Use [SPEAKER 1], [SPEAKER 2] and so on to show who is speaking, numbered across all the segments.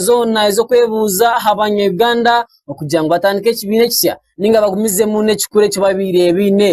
[SPEAKER 1] zoona ez'okwebuuza aha Banya-Uganda okugira ngu batandike ekibiina ekisya nainga bagumizemu n'ekikura eki babaire
[SPEAKER 2] baine.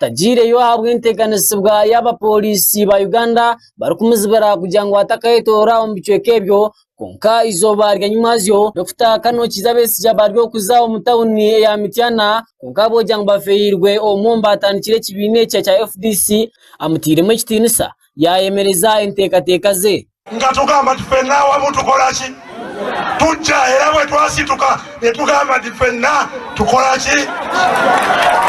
[SPEAKER 1] tagyireyo ahabw'enteganisiibwa y'abaporisi ba Uganda barikumuzibira kugira ngu atakayetoora omu bicweka ebyo kwonka eizooba ryanyimazyo Dokita Kanokiiza Besigye bari kuza omu tauni ya Mityana kwonka ahabw'okugira ngu bafeerirwe omwe omu baatandikire ekibiina ekyo ekya fdc amutairemu ekitiinisa yayemereza enteekateeka ze. Nkatugamba nti, Ffe naawe
[SPEAKER 3] abu tukora ki? Tugya. Era bwe twasituka ne tugamba nti, Ffenna tukora ki?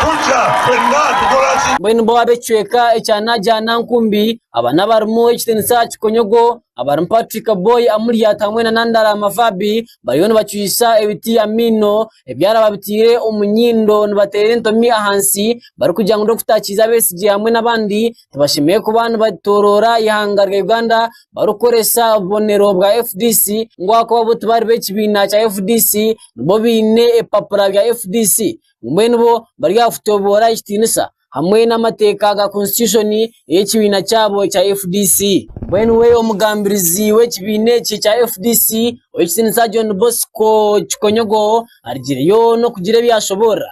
[SPEAKER 3] Tugya. Ffenna tukora ki? Mbwenu bo ab'ekicweka
[SPEAKER 1] ekya Najana Nkumbi, aba n'abarimu ekitiinisa aha kikonyogo, abarimu Patrick Boy Amuriat hamwe na Nandala Mavabi bariyo nibacwisa ebiti amaino ebyara babitaire omu nyindo nibateera entomi ahansi barikugira ngu n'okutaakiiza Besigye hamwe n'abandi nibashemererwa kuba nibatooroora eihanga rya Uganda barikukoresa obubonero bwa FDC ngu ahakuba bo tibari b'ekibiina kya FDC bo baine ebipapura bya FDC mbwenu bo bari aha kutooroora ekitiinisa hamwe n'amateeka ga konsitushoni ey'ekibiina kyabo ekya FDC. Mbwenu we omugambirizi w'ekibiina eki kya FDC ow'ekitinisa John Bosco Kikonyogo arigireyo n'okugira ebi yashoboorora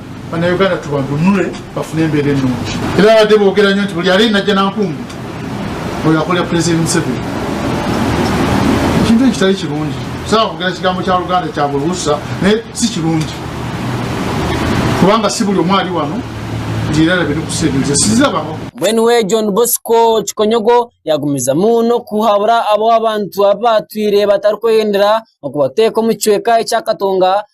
[SPEAKER 4] Banauganda tubanunule bafune embera enungi. Ebi babade bogera nyo nti buri areye naja na nkumbi oyo akorera president Museveni ekintu eki kitari kirungi kusaba kogera kigambo kya ruganda kya buri usa naye sikirungi kubanga si buri omwe ari wano nti era arabe nokusa ebintu ze sizizabaho. Mbwenu we John
[SPEAKER 1] Bosco Kikonyogo yagumizamu n'okuhabura abo abantu abu batwire batarikweyendera okubateeka omu kicweka ekya Katonga,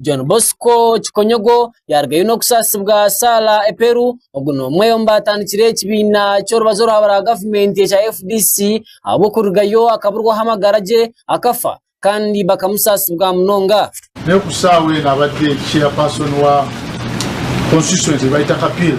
[SPEAKER 1] John Bosco Kikonyogo yaarugayo n'okusaasibwa Sarah Eperu, ogu n'omwe omu baatandikire ekibiina ky'orubazo orwaba rwa gavumenti ekya fdc ahabw'okurugayo akaburwaho amagara gye akafa kandi bakamusaasibwa munonga. Naye ku shaaha
[SPEAKER 4] enu abadde Chairperson wa Constituency Baitaka Peel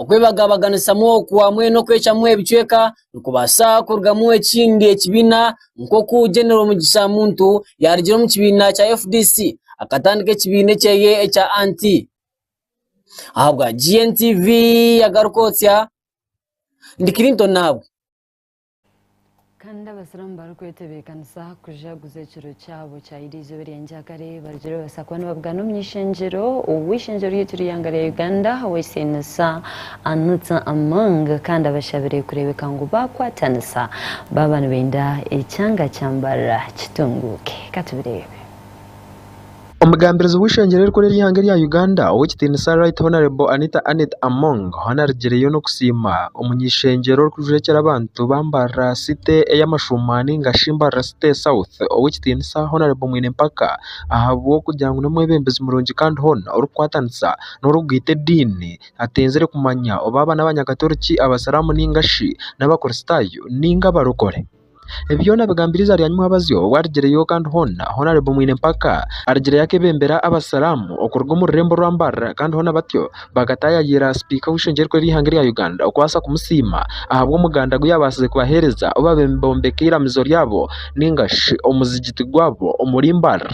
[SPEAKER 4] Okwebagabaganisamu
[SPEAKER 1] oku hamwe n'okwecwamu ebicweka nikubaasa kurugamu ekindi ekibiina nk'oku General Mugisha Muntu yaarugire omu kibiina kya fdc akatandika ekibiina ekyeye ekya Anti. Ahabwa GNTV yagaruka otsya, ndi Clinton Naabwe. Kandi
[SPEAKER 5] Abasiramu barikwetebeekanisa kujaguza ekiro kyabo kya Idi eizooba erya ngyakare, barugire babaasa kuba nibabugana omu ishengyero. Ow'eishengyero ryaitu ry'eihanga rya Uganda ow'ekitinisa Anitha Among kandi abashabire kureebeka ngu baakwatanisa baaba nibenda ekyanga kya Mbarara kitunguuke. Ka tubireebe.
[SPEAKER 6] Omugambirizi w'eishengyero erikuru ery'eihanga erya Uganda ow'ekitiinisa Right Hon Anita Annet Among hoona arigireyo n'okusiima omuny'eishengyero orikujwekyera abantu ba Mbarara City ey'amashuuma nainga shi Mbarara City South ow'ekitiinisa Hon Mwinempaka ahabw'okugira ngu n'omwebembezi murungi kandi hoona orikukwatanisa n'orikugwita ediini atenzire kumanya oba aba n'abanyakatoriki, abasiramu nainga shi n'abakristaayo nainga abarokore. Ebi byoona abigambire izarya Nymuhabazyo obwo arigireyo kandi hoona hoona aribo mwine empaka. Arigireyo akebembera abasiramu okuruga omu rurembo rwa Mbarara kandi hoona batyo bakatayayiira sipiika w'eishengye erikuru ery'eihanga erya Uganda okubasa kumusiima ahabw'omuganda gu yabasize kubahereza obu babe nibombeka eiramizo ryabo ninga shi omuzigiti gwabo omuri Mbarara.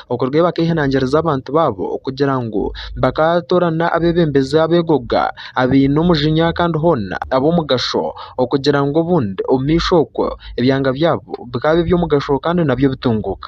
[SPEAKER 6] Okuruga eyi bak'ehanangiriza abantu baabo okugira ngu bakatoorana abebembezi ab'egoga, abaine omujinya kandi hoona ab'omugasho okugira ngu obundi omu maisho okwo ebyanga byaabo bikaabe eby'omugasho kandi nabyo bitunguuka.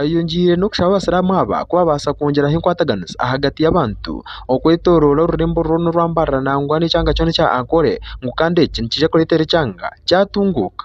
[SPEAKER 6] Ayongiire n'okushaba Abasiramu aba ku babaasa kwongyeraho enkwataganiza ahagati y'abantu okwetoroora orurembo orwo n'orwa mbarara nangwa n'ekyanga kyona ekya Ankole ngu kandi eki nikiija kureetera ekyanga kyatunguuka.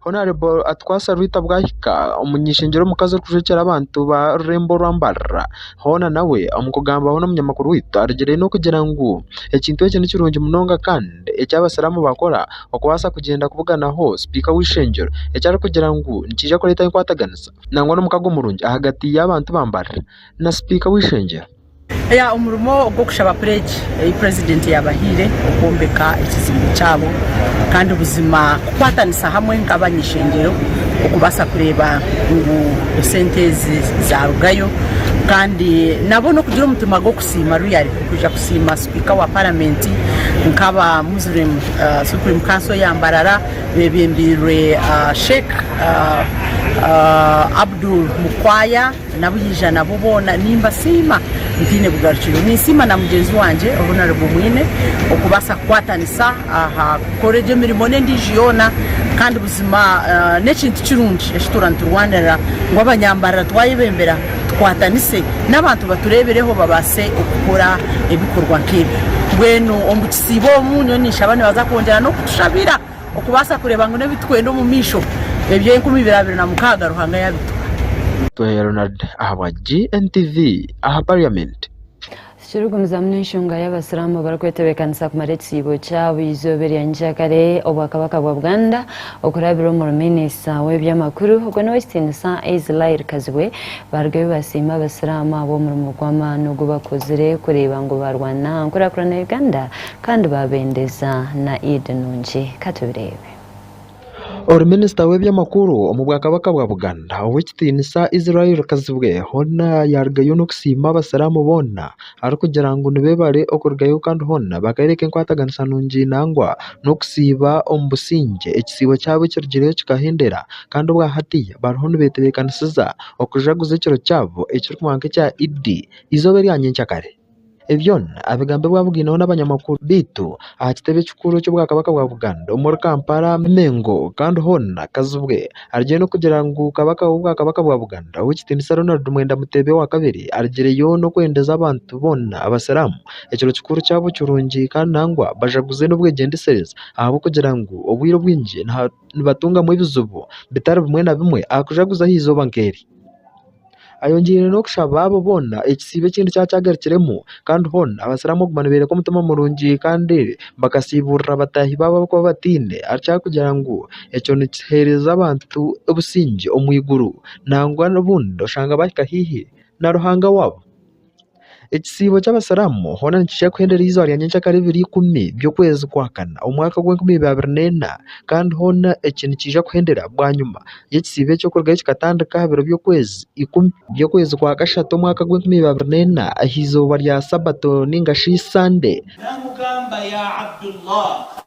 [SPEAKER 6] Honarebo Atukwasa Rwita Bwahika omunyeshengyero omukazi orikujwekyera abantu ba rurembo orwa mbarara hoona nawe omu kugambaho n'omunyamakuru waitu arugiremu kugira ngu ekintu eki nikirungi munonga kandi eki abasiramu bakora okubaasa kugyenda kubuganaho sipiika w'eishengyero eki arikugira ngu nikiija kureeta enkwataganiza nangwa n'omukago murungi ahagati y'abantu ba mbarara na sipiika w'eishengyero. Omurimo
[SPEAKER 7] gw'okushaba pledge ei president yabahaire okwombeka ekizimbe kyabo kandi buzima kukwatanisa hamwe nk'abanyeshengyero okubaasa kureeba ngu esente ezi zarugayo kandi nabo n'okugira omutima gw'okusiima royally kwija kusiima sipiika wa parliament nk'aba Muslim supreme council eya Mbarara bebembeirwe Sheik Abdul Mukwaya. N'abu yaija nabo boona nimbasiima ntaine bugarukiro. Ninsiima na mugyenzi wangye obu narimu mwine okubaasa kukwatanisa aha kukora egyo mirimo n'endiijo yoona kandi buzima n'ekintu kirungi eki tura niturwanirira ngu abanyambarara twayebembera tukwatanise n'abantu batureebireho babaase okukora ebikorwa nk'ebyo. Mbwenu omu kisiibo omu nyowe ninshaba nibaza kwongyera n'okutushabira. Okubaasa kureeba ngu n'ebi turikwenda omu maisho ebya enkumi ibiri abiri na mukaaga Ruhanga yabituha. Tuhe Ronald
[SPEAKER 6] ahabwa GNTV aha parliament. Tikirikugumizamu
[SPEAKER 5] n'enshonga y'abasiramu abarikwetebekanisa kumara ekisiibo kyabo eizooba erya nyikyakare obwakabaka bwa Buganda okurabira omuri minister w'ebyamakuru ogwo n'owekitiinisa Israel Kazibwe barugeyo basiima abasiramu ahabw'omurimo gw'amaani ogu bakozire kureeba ngu barwana nkurakurana ya Uganda Kandi baabendeza na Eid nungi. Ka tubireebe. Ori
[SPEAKER 6] Minisita w'eby'amakuru omu Bwakabaka bwa Buganda, Ow'ekitiinisa Israel Kazibwe hoona yaarugayo n'okusiima Abasiraamu boona arikugira ngu nibeebare okurugayo kandi hoona bakayoreka enkwataganisa nungi nangwa n'okusiiba omu busingye ekisiibo kyabo ekirugiireyo kikahendera kandi obwahati bariho nibetebeekanisiza okujaguza ekiro kyabo ekirikuhwa nk'ekya Eid eizooba erya nyenkyakare. Ebyona abigambe bwabugaineho n'abanyamakuru beitu aha kitebe kikuru ky'obwakabaka bwa Buganda omuri Kampala, Mengo kandi hoona Kazibwe arugire n'okugira ngu Kabaka w'obwakabaka bwa Buganda Ow'ekitiinisa Ronald Mwenda Mutebi owa kabiri arugireyo n'okwendeza abantu boona abasiramu ekiro kikuru kyabo kirungi kandi nangwa bajaguze n'obwegyendesereza ahabw'okugira ngu obwire obwingi nibatungamu ebizibu bitari bimwe na bimwe aha kujaguza aha eizooba nk'eri. Ayongyeire n'okushaba abo boona ekisiibo ekindi kyaba kyagarukiremu kandi hoona Abasiramu kuguma niboreka omutima murungi kandi bakasiibuurira bataahi baabo abarikuba bataine ahabw'okugira ngu ekyo nikiheereza abantu obusingye omu iguru nangwa obundi oshange baahika haihi na Ruhanga waabo. Ekisiibo ky'Abasiramu hoona nikija kuhenderera eizooba rya nyenkyakare ebiro ikumi by'okwezi kwa kana omwaka gw'enkumi ibiri abiri neena kandi hoona eki nikiija kuhenderera bwanyima y'ekisiibo eky'okurugayo kikatandika aha biro by'okwezi ikumi by'okwezi kwa kashatu omwaka gw'enkumi ibiri abiri neena aha izooba rya sabato ninga shi sande. Namugamba ya
[SPEAKER 8] Abdullah!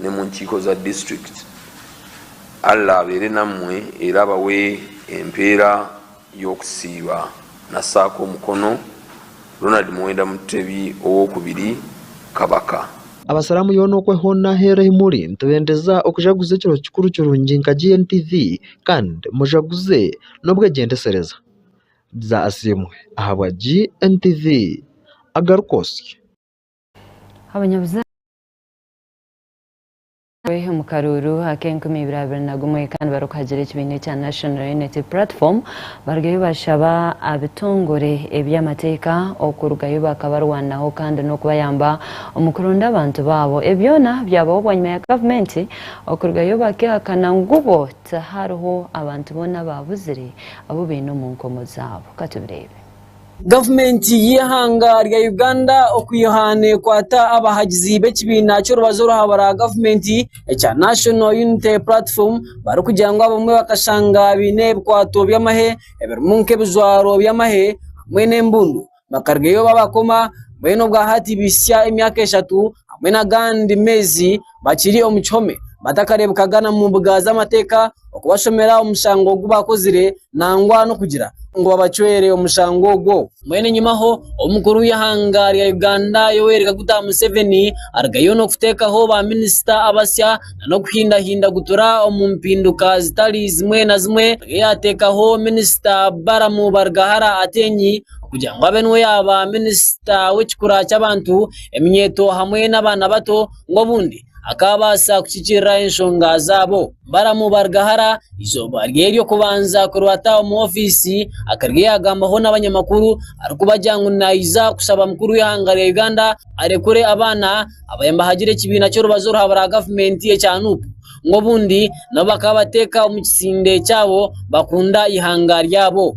[SPEAKER 8] ne mu nkiiko za district. Allah abeere namwe era abawe empeera y'okusiiba na saako omukono Ronald Muwenda Mutebi ow'okubiri Kabaka. Abasiramu yoona
[SPEAKER 6] okwe hoona aheru ahi muri nitubendeza okujaguza ekiro kikuru kirungi nka GNTV kandi mujaguze n'obwegyendesereza. Dza Asiimwe ahabwa GNTV agaruka osye. Abanyabuzaare.
[SPEAKER 5] Nawe omu karuuru ak'enkumi ibiri abiri na gumwe kandi barikuhagira ekibiina ekya National Unity Platform barugayo bashaba abitongore eby'amateeka okurugayo bakabarwanaho kandi n'okubayamba omu kuronda abantu baabo. Ebi byona byabaho bwanyima ya gavumenti okurugayo bakehakana ngu bo tihariho abantu boona abaabuzire abu baine omu nkomo zaabo. Katubireebe. Gavumenti
[SPEAKER 1] y'eihanga rya Uganda okwiha nekwata abahagizi b'ekibiina ky'orubazo orwahabura gavumenti ekya National Unity Platform barikugira ngu abamwe bakashanga baine ebikwato by'amahe ebirimu nk'ebijwaro by'amahe hamwe n'embundu bakarugayo babakoma mbwenu obwa hati bahisya emyaka eshatu hamwe n'agandi meezi. bakiri omu kihome batakareebekaga na mu mbuga z'amateeka okubashomera omushango ogu baakozire nangwa n'okugira ngu babacwere omushango ogwo. Mbwenu enyimaho, omukuru w'eihanga rya Uganda Yoweri Kaguta Museveni arugayo n'okuteekaho ba minisita abasya na n'okuhindahinda gutura omu mpinduka zitari zimwe na zimwe nabwe yaateekaho minisita Balaam Barugahara Ateenyi kugira ngu abe niwe yaaba minisita w'ekikura ky'abantu, eminyeeto hamwe n'abaana bato. ngu obundi akaabaasa kukikirira enshonga zaabo. Balamu baaruga hara, eizooba rye ry'okubanza kurwata omu ofiisi, akarya yaagambaho n'abanyamakuru arikubagira ngu naija kushaba mukuru w'eihanga rya Uganda arekure abaana abaabaire nibahagire ekibiina ky'orubazo orwaburaaha gavumenti ekya Nup ngu obundi nabo bakaba bateeka omu kisinde kyabo bakunda eihanga ryabo.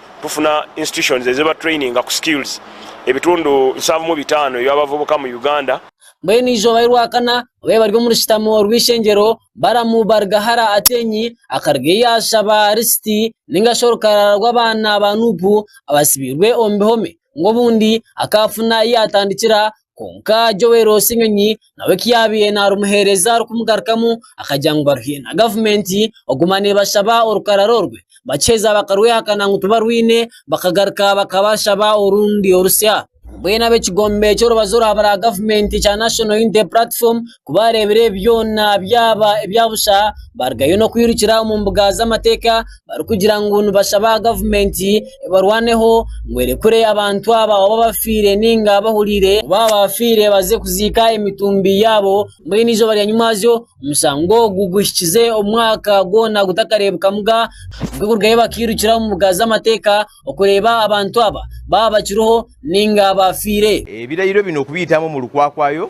[SPEAKER 9] kufuna institutions eziba traininga ku skills ebitundu nshanvu mu bitaano eby'abavubuka mu Uganda. Mbwenu eizooba
[SPEAKER 1] ry'orwakana obwo bari omu rushutamo rw'eishengyero, Balamu baaruga hara Atenyi, akaruga ei yaashaba Lisiti, nainga shi orukarara rw'abaana ba Nuupu abatsibiirwe omu bihome, ngu obundi akaafuna ei yaatandikira Kwonka Joel Ssenyonyi nawe ku yaabaire naarumuheereza arikumugarukamu akagira ngu baruhiire na gavumenti kuguma neebashaba orukarara orwe bakiheza bakarwehakana ngu tibarwine bakagaruka bakabashaba orundi orutsya. Mbwenu ab'ekigombe ky'orubaju orwa baragavumenti ekya National Unity Platform Ku baareebire ebi byona byaba ebya busha, baarugayo n'okwirukira omu mbuga z'amateeka barikugira ngu nibashaba gavumenti ebarwaneho ngu erekure abantu aba oba bafiire nainga bahuriire ku baabafiire baze kuziika emitumbi yaabo mbwenu eizooba rya nyimuazyo omushango ogu guhikize omwaka gwona gutakareebekamuga nikwo kurugayo bakairukira omu mbuga z'amateeka okureeba abantu aba baaba bakiriho nainga baafiire. Ebirayiro binu
[SPEAKER 10] okubiitamu omu rukwakwayo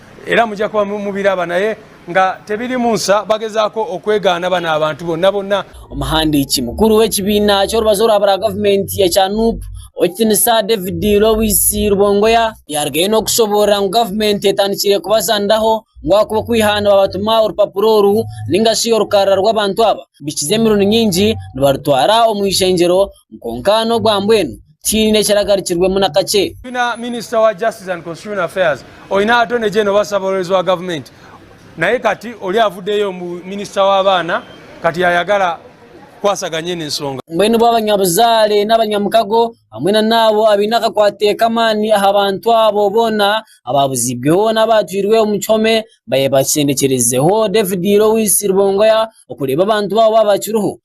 [SPEAKER 11] Era mugya kuba mubiraba naye nga tebirimu nsa bagezaako okwegaana bano abantu bonna bonna. Omuhandiiki
[SPEAKER 1] mukuru w'ekibiina ky'orubazo orwa bura gavumenti ekya nup, Owekitinisa David Lois Rubongoya, yarugayo n'okushoboorora ngu gavumenti etandikire kubazaniraho ngu ahakuba okwiha nibabatuma orupapura oru ningashi orukarara rw'abantu aba bikize emirundi nyingi nibarutwara omu ishengyero, Kwonka n'obwa mbwenu tihaine ekiragarukirwemu na kakye. Twine Minisita wa
[SPEAKER 11] Justice and Constitutional Affairs, Oine Attorney General oba Ssabawoorezi wa Gavumenti naye kati ori avuddeyo omu Minisita w'Abaana kati yaayagala kukwasaganya enu ensonga. Mbwenu bo abanyabuzaare
[SPEAKER 1] n'abanyamukago hamwe na n'abo abaine akakwate k'amaani aha bantu abo boona abaabuziibweho n'abaatwirwe omu kihome baye bakyendekyerezeho David Lois Rubongoya okureeba abantu baabo baaba bakiriho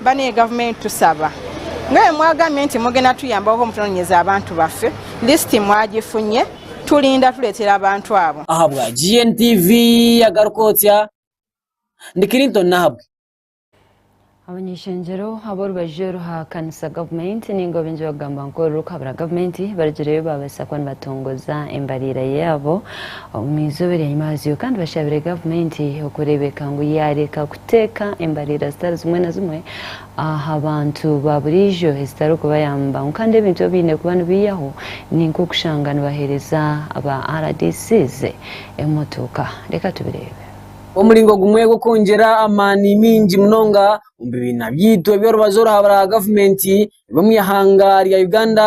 [SPEAKER 12] Mba niyo government
[SPEAKER 13] tusaba. Mbwenu mwagambire nti mugenda tuyambaho mutunonyeze abantu baffe, list mwagifunye, tulinda tuletera abantu abo. Ahabwa GNTV
[SPEAKER 1] yagaruka otya? Ndi Clinton Nahabwe. Abany'ishengyero
[SPEAKER 5] ab'orubaju oruhakanisa gavumenti nainga obingi bakugamba nkoru rurikuhabura gavumenti barigireyo babaasa kuba nibatongoza embariira yaabo Omu izooba ery'enyima yaazo kandi bashabire gavumenti okureebeka ngu yaareka kuteeka embareira zitari zimwe na zimwe aha bantu ba buriijo ezitarikubayamba ngu kandi ebintu ebi baine kuba nibaihaho ni nk'okushanga nibaheereza ba RDCs emotooka. Reka tubireebe. Omuringo gumwe
[SPEAKER 1] gw'okwongyera amaani maingi munonga omu bibiina byaitu eby'orubazo oraahabura aha gavumenti, eby'omu ihanga rya Uganda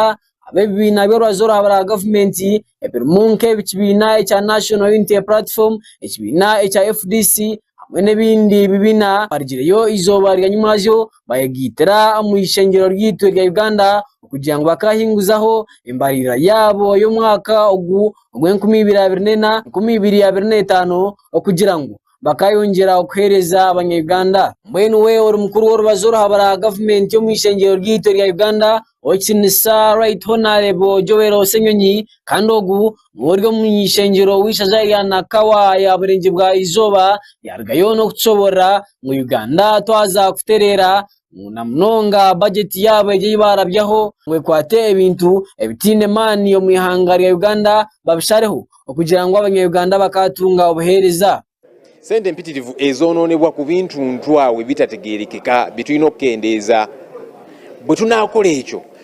[SPEAKER 1] ab'ebibiina by'orubaju oruraabe orwa gavumenti ebirimu nk'ekibiina ekya National Unity Platform, ekibiina ekya fdc hamwe n'ebindi bibiina barigireyo eizooba rya nyimwazyo bayegaitira omu ishengero ryaitu erya Uganda kugira ngu bakahinguzaho embarira yaabo y'omwaka ogu ogw'enkumi ibiri abiri n'ena, enkumi ibiri abiri n'etaano okugira ngu bakayongyera kuheereza abanya-Uganda. Mbwenu we ori mukuru w'orubaju oruhabura gavumenti omu ishengyero ryaitu erya Uganda, Ow'ekitiinisa Right Honarebo Joel Ssenyonyi, kandi ogu niwe ori omu ishengyero w'eishaza erya Nakawa ya Burengye bwa Izooba, yarugayo n'okutushoboorora ngu Uganda twaza kutereera na munonga bajeti yaabo egi ei baarabyaho ngu ekwate ebintu ebitaine maani omu ihanga rya Uganda babishareho okugira ngu Abanya-Uganda bakaatunga obuheereza. Sente
[SPEAKER 10] mpitirivu ezoonoonebwa ku bintu ntwaawe bitategeerekeka bi twine okukendeeza. Bwe tunaakora ekyo,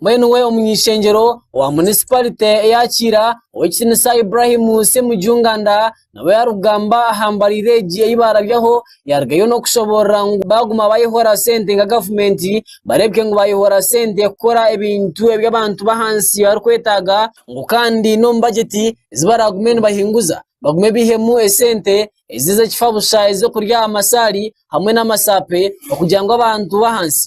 [SPEAKER 10] Mbwenu we
[SPEAKER 1] omuny'ishengyero owa munisiparite eya Kiira Ow'ekitiinisa Ibrahim Ssemujju Nganda nabo yarikugamba aha mbareira egi ei baarabyaho yaarugayo n'okushoboorora ngu baaguma baayehora sente nka gavumenti bareebeke ngu baayehora sente kukora ebintu ebi abantu b'ahansi barikwetaaga ngu kandi n'omu bagyeti ezi baraagume nibahinguza bagume baihemu esente ezi ez'ekifa busha ez'okurya amasaari hamwe n'amasaape okugira ngu abantu b'ahansi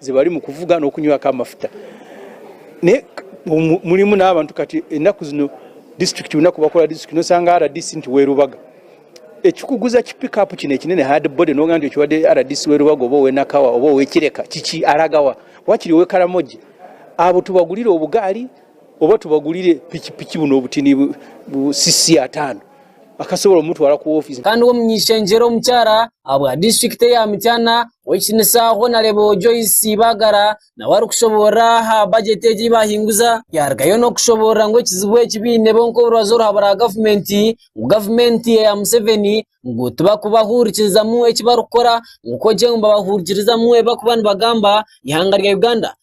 [SPEAKER 14] Zi barimu kuvuga n'okunywaka amafuta. Naye mulimu n'abantu kati enaku zino disiturikiti runaku bakora disiturikiti nosanga RDC nti we Rubaga ekikuguza ki pick up kine kinene hard body nogamba nti okiwa RDC we Rubaga oba owe Nakawa oba owe Kireka kiki aragawa wakiri owe Karamoja abo tubagurire obugaari oba tubagurire piki piki buno obutini bu cc ataano akasobora omutwara ku office. Kandi ow'omuny'ishengyero
[SPEAKER 1] omukyara ahabwa disiturikiti eya Mityana Oyihikiiriza aho nareeba Joyce Bagara nawe arikushoboorora aha bajeti egi ei baahinguza yarugayo n'okushoboorora ngu ekizibu eki baine bo nk'orubaju oruraba rwa gavumenti ngu gavumenti eya Museveni ngu tibarikubahuurikirizamu eki barikukora ngu kwogyo ngu nibabahuurikirizamu ebi barikuba nibagamba eihanga rya Uganda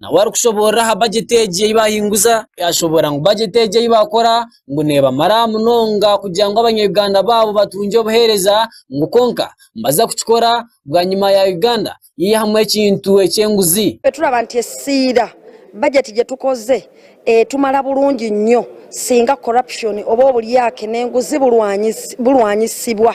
[SPEAKER 1] nawe arikushoboorora aha bajeti egi ei baahinguza yaashoboora ngu bajeti egi ei baakora ngu neebamara munonga kugira ngu Abanya-Uganda baabo batungye obuheereza ngu kwonka nibaza kukikora bwanyima ya Uganda yaihamu ekintu eky'enguzi. Itwe turaba nitwesiira
[SPEAKER 15] bajeti gye tukoze etumara burungi nnyo singa corruption oba oburyake n'enguzi burwanyisibwa.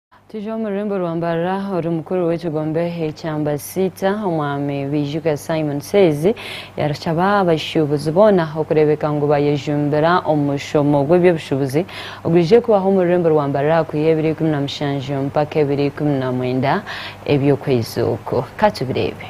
[SPEAKER 5] Twiija omu rurembo rwa Mbarara ori mukuru w'ekigombe ekya Mbasiita, Omwami Baijuka Simon Seezi yashaba abashuubuzi boona okureebeka ngu bayejumbira omushomo gw'eby'obushuubuzi ogwije kubaho omu rurembo rwa Mbarara aha kwiha ebiro ikumi na mushanju mpaka ebiro ikumi na mwenda eby'okwezi oku. Ka tubireebe.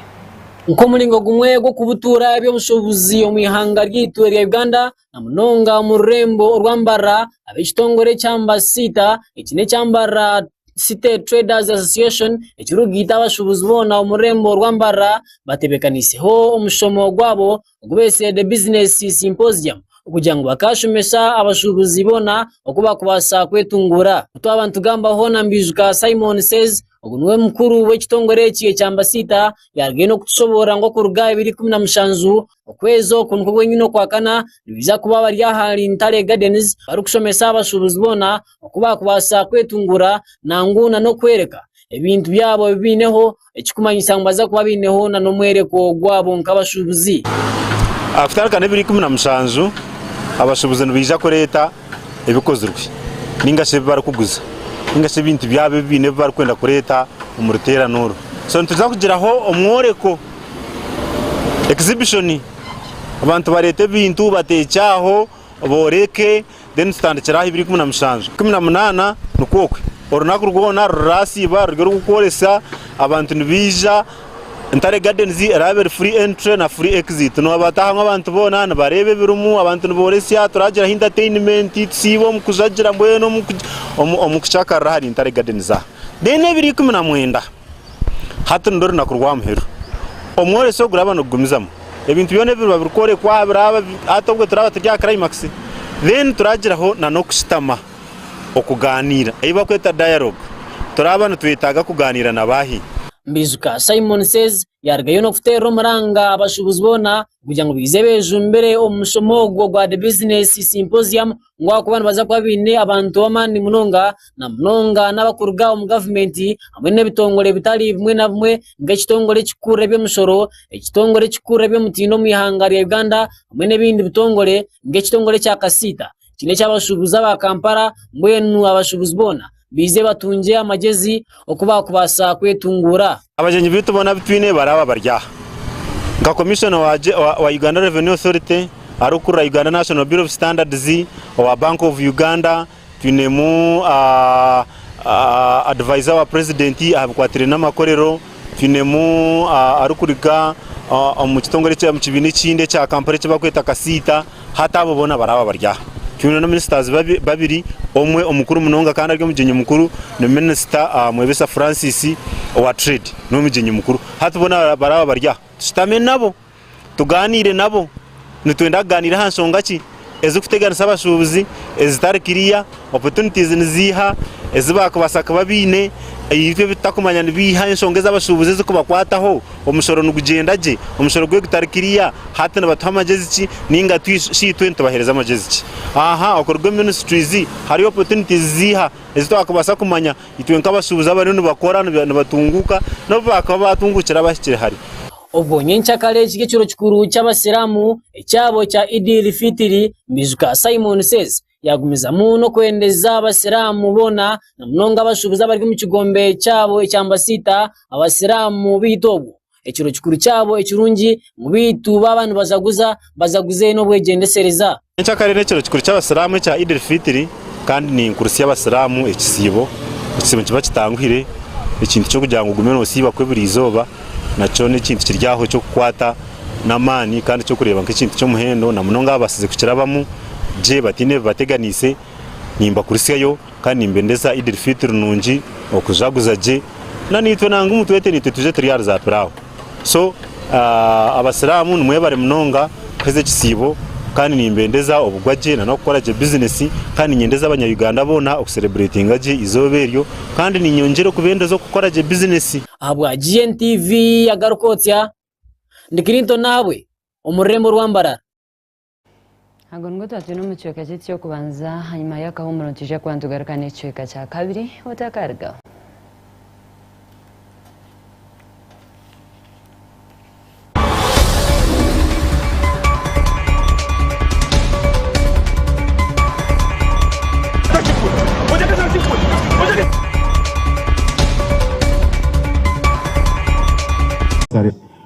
[SPEAKER 5] Nk'omuringo
[SPEAKER 1] gumwe gw'okubutuura eby'obushuubuzi omu ihanga ryaitu erya Uganda, na munonga omu rurembo orwambarira ab'ekitongore kya Ambasita. Eki n'ekyambarira City Traders Association ekirikugaita abashubuzi boona omu rurembo orwambarira batebekaniseho omushomo gwabo ogu betire The Business Symposium okugira ngu bakashomesa abashubuzi boona oku barikubaasa kwetunguura. Ku twaba nitugambaho na Ndwijuka Simon Says ogu niwe mukuru w'ekitongore eki ekya Ambasita yaarugayo n'okutushoboorora ngu okuruga aha biro ikumi na mushanju... Okwezi oku nikwo kwenyine okwa kana nibaija kuba bari ahari Ntare Gardens barikushomesa abashuubuzi boona oku baakubaasa kwetunguura nangwa nana okworeka ebintu byabo ebi baineho ekirikumanyisa ngu nibaija kuba baineho nana omworeko gwabo nk'abashuubuzi. Aha
[SPEAKER 16] kutarika n'ebiro ikumi na mushanju abashuubuzi nibaija kureeta. ebikozirwe ninga shi ebibarikuguza ninga shi ebintu byabo ebi baine ebi barikwenda kureeta omu ruteerane oru. So nituza kugiraho omworeko, exhibition, abantu bareete ebintu bateekye aho booreke then tutandikire aha ibiri ikumi na mushanju. Ikumi na munaana nikwo okwe orunaku rwona ruraasiiba ruri orw'okworesa, abantu nibaija. Ntare Gardens eraabe eri free entry na free exit. Noobatahamu abantu boona nibareeba ebirimu, abantu nibooresya, turagiraho entertainment, tusiibe omu kujagira mbwenu omu ku- omu- omu kucakarira ahari Ntare Gardens aha. Then ebiro ikumi na mwenda, hati nirwo runaku rwa muheru. Omworesyo guraba nigugumizamu. Ebintu byona ebiriba birikworekwa biraaba bi- hati obwe turaba turi aha climax. Then turagiraho na n'okushutama. okugaaniira, ei barikweta dialogue. Turaaba nitwetaaga kugaaniira na baahi? Mbijuka
[SPEAKER 1] Simon Says yaarugayo n'okuteerera omuranga abashuubuzi boona kugira ngu baije beejumbire omu mushomo ogwo gwa The Business Symposium ngu ahakuba nibaija kuba baine abantu b'amaani munonga na munonga n'abarikuruga omu gavumenti hamwe n'ebitongore bitari bimwe na bimwe nk'ekitongore ekirikukurura eby'emishoro, ekitongore ekirikukurura eby'omutindo omu ihanga rya Uganda hamwe n'ebindi bitongore nk'ekitongore ekya kasiita. Eki n'eky'abashuubuzi aba Kampala mbwenu abashuubuzi boona baize batungye amagyezi oku baakubaasa kwetunguura. Abagyenyi baitu boona
[SPEAKER 16] abu twine baraaba bari aha. Nka komishona owa Uganda Revenue Authority arikukurira Uganda National Bureau of Standards, owa Bank of Uganda, twinemu Advisor wa Purezidenti aha bikwataine n'amakorero, Twinemu arikuruga omu kitongore omu kibiina ekindi ekya Kampala eki barikweta Kasiita, hati abo boona baraaba bari aha. Twine na minisita babiri, omwe omukuru munonga kandi ari omugyenyi mukuru ni minisita Mwebesa Francis owa Trade, niwe mugyenyi mukuru. Hati boona baraaba bari aha, tushutami nabo. Tugaaniire nabo, nitwenda kugaaniira aha nshonga ki ezirikuteganisa abashuubuzi ezitari kiriya, opportunities niziiha ezi baakubaasa kuba baine ei itwe tutakumanya nibiiha, enshonga ezi abashuubuzi ezikubakwataho, omushoro nigugyenda gye, omushoro gwe gutari kiriya, hati nibatuha magyezi ki nainga shi itwe nitubaheereza magyezi ki? Aha okuruga omu ministries hariyo opportunities ziiha ezi twakubaasa kumanya itwe nk'abashuubuzi abariyo nibakora nibatunguuka n'obu baakuba baatunguukire abahikire hare? Obwo nyenkyakare
[SPEAKER 1] ekiri ekiro kikuru ky'abasiramu ekyabo ekya Idiil-Fitiri, Mbijuka Simon Says yagumizamu n'okwendeza abasiramu boona na munonga abashubuzi abari omu kigombe kyabo ekya Mbasiita abasiramu beitu obwo ekiro kikuru kyabo ekirungi ngu beitu baaba nibajaguza bazaguzeyo n'obwegyendesereza. Nyenkya kare n'ekiro kikuru
[SPEAKER 16] ky'Abasiraamu ekya Eid al-Fitr kandi ninkurutsya Abasiraamu ekisiibo. Ekisiibo nikiba kitanguhire, ekintu ky'okugira ngu ogume noosiiba kw'eburiizooba nakyo n'ekintu kiri aho eky'okukwata n'amaani kandi eky'okureeba nk'ekintu ky'omuhendo na munonga abo abatsize kukirabamu gye bataine bibateganiise. Nimbakurutsyayo kandi nimbendeza Eid al-Fitr nungi, okujaguza gye. Naniitwe nangwa omutwete niitwe twije turi ahari zaapiraawo. So abasiramu nimwebare munonga kuheza ekisiibo kandi nimbendeza obugwa gye nanokukora gye business kandi ninyendeza abanya Uganda boona oku celebratinga gye eizooba eryo kandi ninyongyera okubendeza okukora gye business. Ahabwa GNTV
[SPEAKER 1] agaruka otya? Ndi Clinton Nahabwe omururembo rwambarara.
[SPEAKER 5] Ago nigo twatwine omu kicweka kyaitu ky'okubanza. Hanyima y'akahumuro nitwija kuba nitugaruka n'ekicweka kya kabiri. Otakarigaho.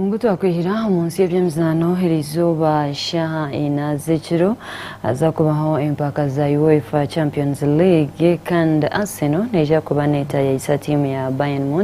[SPEAKER 5] Ngu twakwihira omu nsi y'ebyemizaano eri izooba shaaha ina z'ekiro haza kubaho empaka za UEFA Champions League kandi Arsenal neija kuba neetayaayisa tiimu ya Bayern Munich.